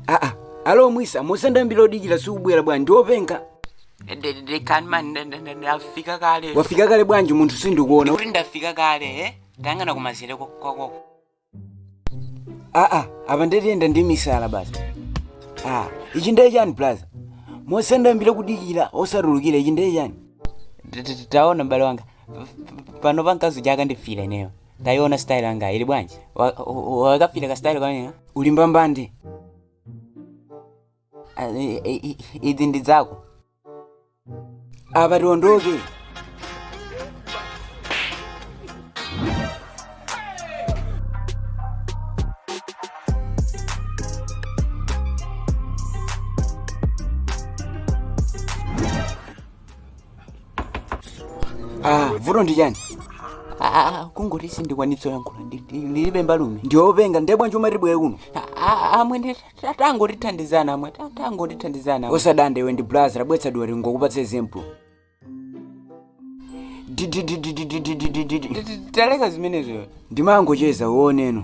aa alo mwisa Musendambiro kudikira sukubwera bwanji ndiopenga ndekani mani nda- nda- nda- ndafika kale wafika kale bwanji munthu sindikuona ndikuti ndafika kale eh? tayang'ana kumazere kwa- kwakoko aa apa ndetiyenda ndi misala basi a ichi ndiye chani blaza Musendambiro kudikira osatulukira ichi ndiye chani T- t- taona mbale wanga P- p- pano pamkazi chakandifera ineyo Taiona style yanga ili bwanji? Wa- wa- Wakapita ka style kanena uli mbambande. Ah, i- i- i- Izi ndi zako. Apa tiondoke. Ah, vuto ndi chani? Ah, kungoti sindikwanitsa kuyankhula ndilibe mbalume ndiopenga ndiye bwanji umati ndibwere kuno amwene tangotithandizani amwene tangotithandizani usadande iwe ndi blaza tabweretsa timve tingokupatsa example taleka zimenezo ndimangocheza uoneno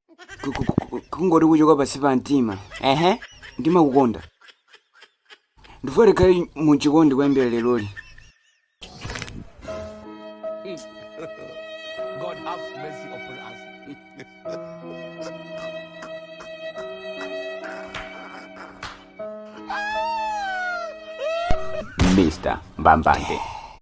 Ku- ku- ku- ku- kungoti kuchoka pansi pa mtima ehe ndimakukonda ndifuna tikhale muchikondi kuyambira leroli God have mercy upon us. mr mbambande